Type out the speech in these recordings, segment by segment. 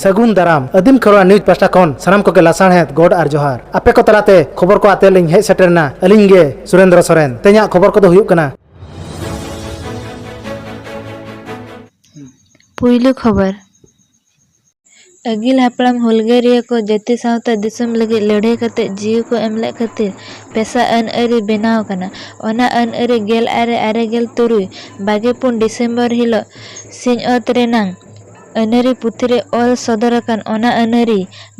ᱥᱟᱹᱜᱩᱱ ᱫᱟᱨᱟᱢ ᱟᱹᱫᱤᱢ ᱠᱷᱚᱨᱣᱟ ᱱᱤᱭᱩᱡᱽ ᱯᱟᱥᱴᱟ ᱠᱷᱚᱱ ᱥᱟᱱᱟᱢ ᱠᱚᱜᱮ ᱞᱟᱥᱟᱬᱦᱮᱫ ᱜᱚᱰ ᱟᱨ ᱡᱚᱦᱟᱨ ᱟᱯᱮ ᱠᱚ ᱛᱟᱞᱟᱛᱮ ᱠᱷᱚᱵᱚᱨ ᱠᱚ ᱟᱛᱮ ᱞᱤᱧ ᱦᱮᱡ ᱥᱮᱴᱮᱨᱱᱟ ᱟᱹᱞᱤᱧ ᱜᱮ ᱥᱩᱨᱮᱱᱫᱨᱚ ᱥᱚᱨᱮᱱ ᱛᱮᱦᱮᱧᱟᱜ ᱠᱷᱚᱵᱚᱨ ᱠᱚᱫᱚ ᱦᱩᱭᱩᱜ ᱠᱟᱱᱟ ᱯᱩᱭᱞᱩ ᱠᱷᱚᱵᱚᱨ ᱟᱹᱜᱤᱞ ᱦᱟᱯᱲᱟᱢ ᱦᱩᱞᱜᱟᱹᱨᱤᱭᱟᱹ ᱠᱚ ᱡᱟᱹᱛᱤ ᱥᱟᱶᱛᱟ ᱫᱤᱥᱚᱢ ᱞᱟᱹᱜᱤᱫ ᱞᱟᱹᱲᱦᱟᱹᱭ ᱠᱟᱛᱮ ᱡᱤᱣᱤ ᱠᱚ ᱮᱢ ᱞᱮᱫ ᱠᱷᱟᱹᱛᱤᱨ ᱯᱮᱥᱟ ᱟᱹᱱ ᱟᱹᱨᱤ ᱵᱮᱱᱟᱣ ᱟᱠᱟᱱᱟ᱾ ᱚᱱᱟ ᱟᱹᱱ ᱟᱹᱨᱤ ᱜᱮᱞ ᱟᱨᱮ ᱟᱨᱮ ᱜᱮᱞ ᱛᱩᱨᱩᱭ ᱵᱟᱜᱮ ᱯᱩᱱ ᱰᱤᱥᱮᱢᱵᱚᱨ ᱦᱤᱞᱚᱜ ᱥᱤᱧᱚᱛ ᱨᱮᱱᱟᱝ ᱟᱹᱱᱟᱹᱨᱤ ᱯᱩᱛᱷᱤ ᱨᱮ ᱚᱞ ᱥᱚᱫᱚᱨ ᱟᱠᱟᱱ ᱚᱱᱟ ᱟᱹᱱᱟᱹᱨᱤ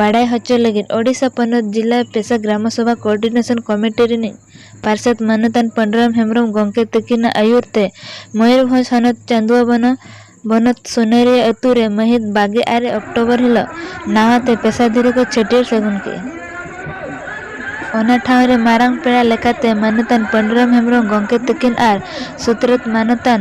ᱵᱟᱰᱟᱭ ᱦᱚᱪᱚ ᱞᱟᱹᱜᱤᱫ ᱳᱰᱤᱥᱟ ᱯᱚᱱᱚᱛ ᱡᱤᱞᱟ ᱯᱮᱥᱟ ᱜᱨᱟᱢ ᱥᱚᱵᱷᱟ ᱠᱳᱨᱰᱤᱱᱮᱥᱚᱱ ᱠᱚᱢᱤᱴᱤ ᱨᱤᱱᱤᱡ ᱯᱟᱨᱥᱮᱛ ᱢᱟᱹᱱᱚᱛᱟᱱ ᱯᱟᱹᱱᱩᱨᱟᱢ ᱦᱮᱢᱵᱽᱨᱚᱢ ᱜᱚᱢᱠᱮ ᱛᱟᱹᱠᱤᱱᱟᱜ ᱟᱹᱭᱩᱨ ᱛᱮ ᱢᱚᱭᱩᱨᱵᱷᱚᱸᱡᱽ ᱦᱚᱱᱚᱛ ᱪᱟᱹᱱᱫᱩᱣᱟᱵᱚᱱᱚ ᱵᱚᱱᱚᱛ ᱥᱩᱱᱟᱹᱨᱤᱭᱟᱹ ᱟᱹᱛᱩ ᱨᱮ ᱢᱟᱹᱦᱤᱛ ᱵᱟᱜᱮ ᱟᱨᱮ ᱚᱠᱴᱚᱵᱚᱨ ᱦᱤᱞᱚᱜ ᱱᱟᱣᱟ ᱛᱮ ᱯᱮᱥᱟ ᱫᱷᱤᱨᱤ ᱠᱚ ᱪᱷᱟᱹᱴᱭᱟᱹᱨ ᱥᱟᱹᱜᱩᱱ ᱠᱮᱫᱼᱟ᱾ ᱚᱱᱟ ᱴᱷᱟᱶ ᱨᱮ ᱢᱟᱨᱟᱝ ᱯᱮᱲᱟ ᱞᱮᱠᱟᱛᱮ ᱢᱟᱹᱱᱚᱛᱟᱱ ᱯᱟᱹᱱᱩᱨᱟᱢ ᱦᱮᱢᱵᱽᱨᱚᱢ ᱜᱚᱢᱠᱮ ᱛᱟᱹᱠᱤᱱ ᱟᱨ ᱥᱩᱛᱨᱮᱛ ᱢᱟᱹᱱᱚᱛᱟᱱ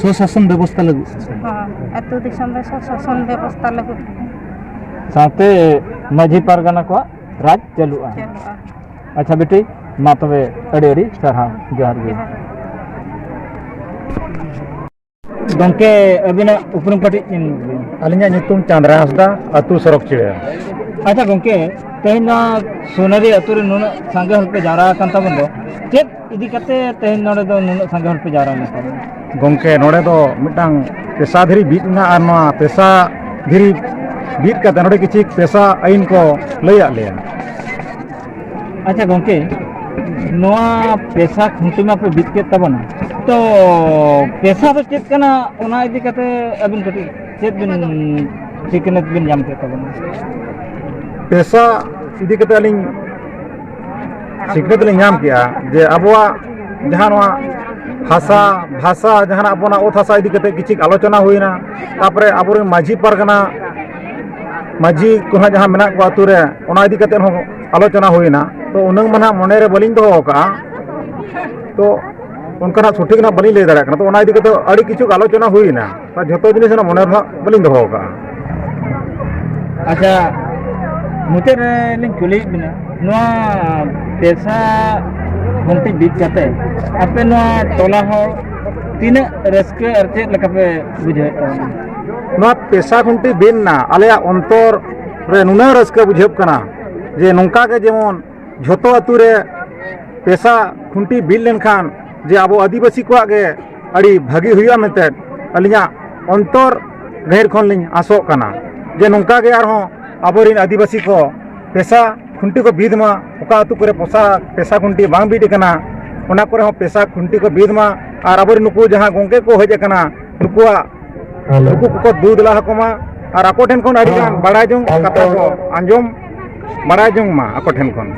ᱥᱩᱥᱟᱥᱚᱱ ᱵᱮᱵᱚᱥᱛᱷᱟ ᱞᱟᱹᱜᱤᱫ ᱟᱹᱛᱩ ᱫᱤᱥᱚᱢ ᱨᱮ ᱥᱩᱥᱟᱥᱚᱱ ᱵᱮᱵᱚᱥᱛᱷᱟ ᱞᱟᱹᱜᱤᱫ ᱥᱟᱶᱛᱮ ᱢᱟᱹᱡᱷᱤ ᱯᱟᱨᱜᱟᱱᱟ ᱠᱚᱣᱟᱜ ᱨᱟᱡᱽ ᱪᱟᱹᱞᱩᱜᱼᱟ ᱟᱪᱪᱷᱟ ᱵᱤᱴᱤ ᱢᱟ ᱛᱚᱵᱮ ᱟᱹᱰᱤ ᱟᱹᱰᱤ ᱥᱟᱨᱦᱟᱣ ᱡᱚᱦᱟᱨ ᱜᱮ ᱜᱚᱢᱠᱮ ᱟᱹᱵᱤᱱᱟᱜ ᱩᱯᱨᱩᱢ ᱠᱟᱹᱴᱤᱡ ᱟᱹᱞᱤᱧᱟᱜ ᱧᱩᱛᱩᱢ ᱪᱟᱸᱫᱽᱨᱟ ᱦᱟᱸᱥᱫᱟ ᱟᱹᱛᱩ ᱥᱚᱨᱚᱠ ᱪᱤᱲᱟ ᱟᱪᱪᱷᱟ ᱜᱚᱢᱠᱮ ᱛᱮᱦᱮᱧ ᱱᱚᱣᱟ ᱥᱩᱱᱟᱹᱨᱤ ᱟᱹᱛᱩ ᱨᱮ ᱱᱩᱱᱟᱹᱜ ᱥᱟᱸᱜᱮ ᱦᱚᱲ ᱯᱮ ᱡᱟᱣᱨᱟ ᱟᱠᱟᱱ ᱛᱟᱵᱚᱱ ᱫᱚ ᱪᱮᱫ ᱤᱫᱤ ᱠᱟᱛᱮ ᱛᱮᱦᱮᱧ ᱱᱚᱰᱮ ᱫᱚ ᱱᱩᱱᱟᱹᱜ ᱥᱟᱸᱜᱮ ᱦᱚᱲ ᱯᱮ ᱡᱟᱣᱨᱟ ᱞᱮᱱᱟ ᱜᱚᱢᱠᱮ ᱱᱚᱰᱮ ᱫᱚ ᱢᱤᱫᱴᱟᱝ ᱯᱮᱥᱟ ᱫᱷᱤᱨᱤ ᱵᱤᱫ ᱮᱱᱟ ᱟᱨ ᱱᱚᱣᱟ ᱯᱮᱥᱟ ᱫᱷᱤᱨᱤ ᱵᱤᱫ ᱠᱟᱛᱮ ᱱᱚᱰᱮ ᱠᱤᱪᱷᱩ ᱯᱮᱥᱟ ᱟᱹᱭᱤᱱ ᱠᱚ ᱞᱟᱹᱭᱟᱫ ᱞᱮᱭᱟ ᱟᱪᱪᱷᱟ ᱜᱚᱢᱠᱮ ᱱᱚᱣᱟ ᱯᱮᱥᱟ ᱠᱷᱩᱱᱴᱤ ᱢᱟᱯᱮ ᱵᱤᱫ ᱠᱮᱫ ᱛᱟᱵᱚᱱᱟ ᱛᱚ ᱯᱮᱥᱟ ᱫᱚ ᱪᱮᱫ ᱠᱟᱱᱟ ᱚᱱᱟ ᱤᱫᱤ ᱠᱟᱛᱮ ᱟᱹᱵᱤᱱ ᱠᱟᱹᱴᱤᱡ ᱪᱮᱫ ᱵᱤᱱ ᱥᱤᱠᱷᱱᱟᱹᱛ ᱵᱤᱱ ᱧᱟᱢ ᱠᱮᱫ ᱛᱟᱵᱚᱱᱟ ᱯᱮᱥᱟ ᱤᱫᱤ ᱠᱟᱛᱮ ᱟᱹᱞᱤᱧ ᱥᱤᱠᱷᱱᱟᱹᱛ ᱞᱤᱧ ᱧᱟᱢ ᱠᱮᱜᱼᱟ ᱡᱮ ᱟᱵᱚᱣᱟᱜ ᱡᱟᱦᱟᱸ ᱱᱚᱣᱟ ᱦᱟᱥᱟ ᱵᱷᱟᱥᱟ ᱡᱟᱦᱟᱱᱟᱜ ᱟᱵᱚᱱᱟᱜ ᱚᱛ ᱦᱟᱥᱟ ᱤᱫᱤ ᱠᱟᱛᱮ ᱠᱤᱪᱷᱩ ᱟᱞᱳᱪᱚᱱᱟ ᱦᱩᱭᱱᱟ ᱛᱟᱯᱚᱨᱮ ᱟᱵᱚᱨᱮᱱ ᱢᱟᱹᱡᱷᱤ ᱯᱟᱨᱜᱟᱱᱟ ᱢᱟᱹᱡᱷᱤ ᱠᱚ ᱦᱟᱸᱜ ᱡᱟᱦᱟᱸ ᱢᱮᱱᱟᱜ ᱠᱚᱣᱟ ᱟᱹᱛᱩ ᱨᱮ ᱚᱱᱟ ᱤᱫᱤ ᱠᱟᱛᱮ ᱦᱚᱸ ᱟᱞᱳᱪᱚᱱᱟ ᱦᱩᱭᱱᱟ ᱛᱚ ᱩᱱᱟᱹᱝ ᱢᱟ ᱱᱟᱦᱟᱜ ᱢᱚᱱᱮᱨᱮ ᱵᱟᱹᱞᱤᱧ ᱫᱚᱦᱚ ᱟᱠᱟᱜᱼᱟ ᱛᱚ ᱚᱱᱠᱟᱱᱟᱜ ᱥᱚᱴᱷᱤᱠ ᱱᱟᱦᱟᱜ ᱵᱟᱹᱞᱤᱧ ᱞᱟᱹᱭ ᱫᱟᱲᱮᱭᱟᱜ ᱠᱟᱱᱟ ᱛᱚ ᱚᱱᱟ ᱤᱫᱤ ᱠᱟᱛᱮ ᱟᱹᱰᱤ ᱠᱤᱪᱷᱩ ᱟᱞᱳᱪᱚᱱᱟ ᱦᱩᱭᱱᱟ ᱟᱨ ᱡᱷᱚᱛᱚ ᱡᱤᱱᱤᱥ ᱨᱮᱱᱟᱜ ᱢᱚᱱᱮ ᱨᱮᱱᱟᱜ ᱵᱟᱹᱞᱤᱧ ᱫᱚᱦᱚ ᱟᱠᱟᱫᱼᱟ ᱟᱪᱪᱷᱟ ᱢᱩᱪᱟᱹᱫ ᱨᱮ ᱞᱤᱧ ᱠᱩᱞᱤᱭᱮᱫ ᱵᱤᱱᱟ ᱱᱚᱣᱟ ᱯᱮᱥᱟ ᱜᱷᱚᱱᱴᱤ ᱵᱤᱫ ᱠᱟᱛᱮ ᱟᱯᱮ ᱱᱚᱣᱟ ᱴᱚᱞᱟ ᱦᱚᱲ ᱛᱤᱱᱟᱹᱜ ᱨᱟᱹᱥᱠᱟᱹ ᱟᱨ ᱪᱮᱫ ᱞᱮᱠᱟ ᱯᱮ ᱵᱩᱡᱷᱟᱹᱣᱮᱫ ᱛᱟᱵᱚᱱᱟ ᱱᱚᱣᱟ ᱯᱮᱥᱟ ᱜᱷᱚᱱᱴᱤ ᱵᱤᱫ ᱮᱱᱟ ᱟᱞᱮᱭᱟᱜ ᱚᱱᱛᱚᱨ ᱨᱮ ᱱᱩᱱᱟᱹᱜ ᱨᱟᱹᱥᱠᱟᱹ ᱵᱩᱡᱷᱟᱹᱜ ᱠᱟᱱᱟ ᱡᱮ ᱱᱚᱝᱠᱟ ᱜᱮ ᱡᱮᱢᱚᱱ ᱡᱷᱚᱛᱚ ᱟᱛᱳ ᱨᱮ ᱯᱮᱥᱟ ᱠᱷᱩᱱᱴᱤ ᱵᱤᱫ ᱞᱮᱱᱠᱷᱟᱱ ᱡᱮ ᱟᱵᱚ ᱟᱹᱫᱤᱵᱟᱹᱥᱤ ᱠᱚᱣᱟᱜ ᱜᱮ ᱟᱹᱰᱤ ᱵᱷᱟᱹᱜᱤ ᱦᱩᱭᱩᱜᱼᱟ ᱢᱮᱱᱛᱮ ᱟᱹᱞᱤᱧᱟᱜ ᱚᱱᱛᱚᱨ ᱜᱟᱹᱦᱤᱨ ᱠᱷᱚᱱ ᱞᱤᱧ ᱟᱥᱚᱜ ᱠᱟᱱᱟ ᱡᱮ ᱱᱚᱝᱠᱟ ᱜᱮ ᱟᱨᱦᱚᱸ ᱟᱵᱚᱨᱮᱱ ᱟᱹᱫᱤᱵᱟᱹᱥᱤ ᱠᱚ ᱯᱮᱥᱟ ᱠᱷᱩᱱᱴᱤ ᱠᱚ ᱵᱤᱫ ᱢᱟ ᱚᱠᱟ ᱟᱛᱳ ᱠᱚᱨᱮ ᱯᱚᱥᱟ ᱯᱮᱥᱟ ᱠᱷᱩᱱᱴᱤ ᱵᱟᱝ ᱵᱤᱫ ᱟᱠᱟᱱᱟ ᱚᱱᱟ ᱠᱚᱨᱮ ᱦᱚᱸ ᱯᱮᱥᱟ ᱠᱷᱩᱱᱴᱤ ᱠᱚ ᱵᱤᱫ ᱢᱟ ᱟᱨ ᱟᱵᱚᱨᱮᱱ ᱱᱩᱠᱩ ᱡᱟᱦᱟᱸ ᱜᱚᱝᱠᱮ ᱠᱚ ᱦᱮᱡ ᱟᱠᱟᱱᱟ ᱱᱩᱠᱩᱣᱟᱜ ᱱᱩᱠᱩ ᱠᱚᱠᱚ ᱫᱩ ᱫᱮᱞᱟ ᱟᱠᱚ ᱢᱟ ᱟᱨ ᱟᱠᱚ ᱴᱷᱮᱱ ᱠᱷᱚᱱ ᱟᱹᱰᱤ ᱜᱟᱱ ᱵᱟᱲᱟᱭ ᱡᱚᱝ ᱠᱟᱛᱷᱟ ᱠᱚ ᱟᱸᱡᱚᱢ ᱵᱟᱲᱟᱭ ᱡᱚᱝ ᱢᱟ ᱟᱠᱚ ᱴᱷᱮᱱ ᱠᱷᱚᱱ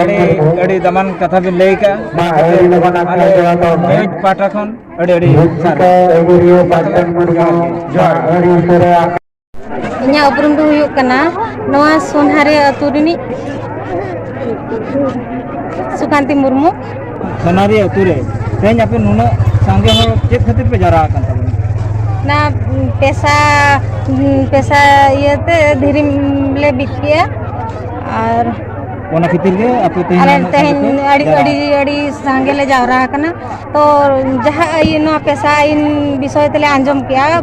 ᱟᱹᱰᱤ ᱟᱹᱰᱤ ᱫᱟᱢᱟᱱ ᱠᱟᱛᱷᱟ ᱵᱤᱱ ᱞᱟᱹᱭ ᱠᱟᱜᱼᱟ ᱟᱞᱮ ᱯᱟᱦᱴᱟ ᱠᱷᱚᱱ ᱟᱹᱰᱤ ᱟᱹᱰᱤ ᱡᱚᱦᱟᱨ ᱤᱧᱟᱹᱜ ᱩᱯᱨᱩᱢ ᱫᱚ ᱦᱩᱭᱩᱜ ᱠᱟᱱᱟ ᱱᱚᱣᱟ ᱥᱳᱱᱦᱟᱨᱮ ᱟᱹᱛᱩ ᱨᱤᱱᱤᱡ ᱥᱩᱠᱟᱱᱛᱤ ᱢᱩᱨᱢᱩ ᱥᱳᱱᱦᱟᱨᱮ ᱟᱹᱛᱩ ᱨᱮ ᱛᱮᱦᱮᱧ ᱟᱯᱮ ᱱᱩᱱᱟᱹᱜ ᱥᱟᱸᱜᱮ ᱦᱚᱲ ᱪᱮᱫ ᱠᱷᱟᱹᱛᱤᱨ ᱯᱮ ᱡᱟᱣᱨᱟ ᱟᱠᱟᱱ ᱛᱟᱵᱚᱱᱟ ᱚᱱᱟ ᱯᱮᱥᱟ ᱯᱮᱥᱟ ᱤᱭᱟᱹᱛᱮ ᱫᱷᱤᱨᱤ ᱞᱮ ᱵᱤᱫ ᱠᱮᱜᱼᱟ ᱟᱨ ᱚᱱᱟ ᱠᱷᱟᱹᱛᱤᱨ ᱜᱮ ᱟᱯᱮ ᱛᱮᱦᱮᱧ ᱛᱮᱦᱮᱧ ᱟᱹᱰᱤ ᱟᱹᱰᱤ ᱟᱹᱰᱤ ᱥᱟᱸᱜᱮ ᱞᱮ ᱡᱟᱣᱨᱟ ᱟᱠᱟᱱᱟ ᱛᱚ ᱡᱟᱦᱟᱸ ᱟᱹᱭᱤᱱ ᱱᱚᱣᱟ ᱯᱮᱥᱟ ᱟᱹᱭᱤᱱ ᱵᱤᱥᱚᱭ ᱛᱮᱞᱮ ᱟᱸᱡᱚᱢ ᱠᱮᱜᱼᱟ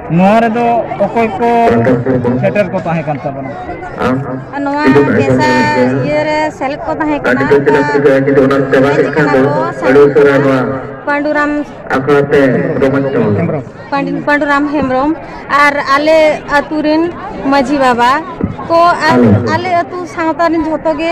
ᱱᱚᱣᱟ ᱨᱮᱫᱚ ᱚᱠᱚᱭ ᱠᱚ ᱥᱮᱴᱮᱨ ᱠᱚ ᱛᱟᱦᱮᱸ ᱠᱟᱱ ᱛᱟᱵᱚᱱᱟ ᱟᱨ ᱱᱚᱣᱟ ᱵᱮᱥᱟ ᱤᱭᱟᱹ ᱨᱮ ᱥᱮᱞᱮᱫ ᱠᱚ ᱛᱟᱦᱮᱸ ᱠᱟᱱᱟ ᱯᱟᱺᱰᱩᱨᱟᱢ ᱯᱟᱺᱰᱩᱨᱟᱢ ᱦᱮᱢᱵᱨᱚᱢ ᱟᱨ ᱟᱞᱮ ᱟᱛᱳ ᱨᱮᱱ ᱢᱟᱺᱡᱷᱤ ᱵᱟᱵᱟ ᱠᱚ ᱟᱨ ᱟᱞᱮ ᱟᱛᱳ ᱥᱟᱶᱛᱟ ᱨᱮᱱ ᱡᱷᱚᱛᱚ ᱜᱮ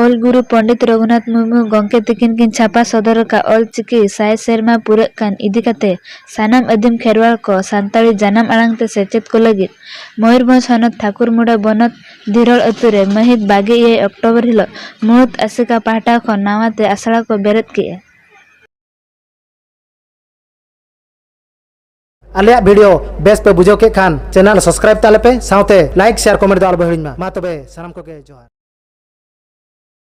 ᱚᱞ ᱜᱩᱨᱩ ᱯᱚᱸᱰᱤᱛ ᱨᱚᱜᱷᱩᱱᱟᱛᱷ ᱢᱩᱨᱢᱩ ᱜᱚᱢᱠᱮ ᱛᱤᱠᱤᱱ ᱠᱤᱱ ᱪᱷᱟᱯᱟ ᱥᱚᱫᱚᱨ ᱟᱠᱟᱫ ᱚᱞ ᱪᱤᱠᱤ ᱥᱟᱭ ᱥᱮᱨᱢᱟ ᱯᱩᱨᱟᱹᱜ ᱠᱟᱱ ᱤᱫᱤ ᱠᱟᱛᱮ ᱥᱟᱱᱟᱢ ᱟᱹᱫᱤᱢ ᱠᱷᱮᱨᱣᱟᱲ ᱠᱚ ᱥᱟᱱᱛᱟᱲᱤ ᱡᱟᱱᱟᱢ ᱟᱲᱟᱝ ᱛᱮ ᱥᱮᱪᱮᱫ ᱠᱚ ᱞᱟᱹᱜᱤᱫ ᱢᱚᱭᱩᱨᱵᱷᱚᱸᱡᱽ ᱦᱚᱱᱚᱛ ᱴᱷᱟᱠᱩᱨᱢᱩᱰᱟ ᱵᱚᱱᱚᱛ ᱫᱷᱤᱨᱚᱲ ᱟᱹᱛᱩ ᱨᱮ ᱢᱟᱹᱦᱤᱛ ᱵᱟᱜᱮ ᱮᱭᱟᱭ ᱚᱠᱴᱚᱵᱚᱨ ᱦᱤᱞᱚᱜ ᱢᱩᱬᱩᱛ ᱟᱥᱮᱠᱟ ᱯᱟᱦᱴᱟ ᱠᱷᱚᱱ ᱱᱟᱣᱟ ᱛᱮ ᱟᱥᱲᱟ ᱠᱚ ᱵᱮᱨᱮᱫ ᱠᱮᱫᱼᱟ᱾ ᱟᱞᱮᱭᱟᱜ ᱵᱷᱤᱰᱤᱭᱳ ᱵᱮᱥ ᱯᱮ ᱵᱩᱡᱷᱟᱹᱣ ᱠᱮᱫ ᱠᱷᱟᱱ ᱪᱮᱱᱮᱞ ᱥᱟᱵᱥᱠᱨᱟᱭᱤᱵ ᱛᱟᱞᱮ ᱯᱮ ᱥᱟᱶᱛᱮ ᱞᱟᱭᱤᱠ ᱥᱮᱭᱟᱨ ᱠᱚᱢᱮᱱᱴ ᱫᱚ ᱟᱞᱚ ᱯᱮ ᱦᱤᱲᱤᱧ ᱢᱟ ᱢᱟ ᱛᱚᱵᱮ ᱥᱟᱱᱟᱢ ᱠᱚᱜᱮ ᱡᱚᱦᱟᱨ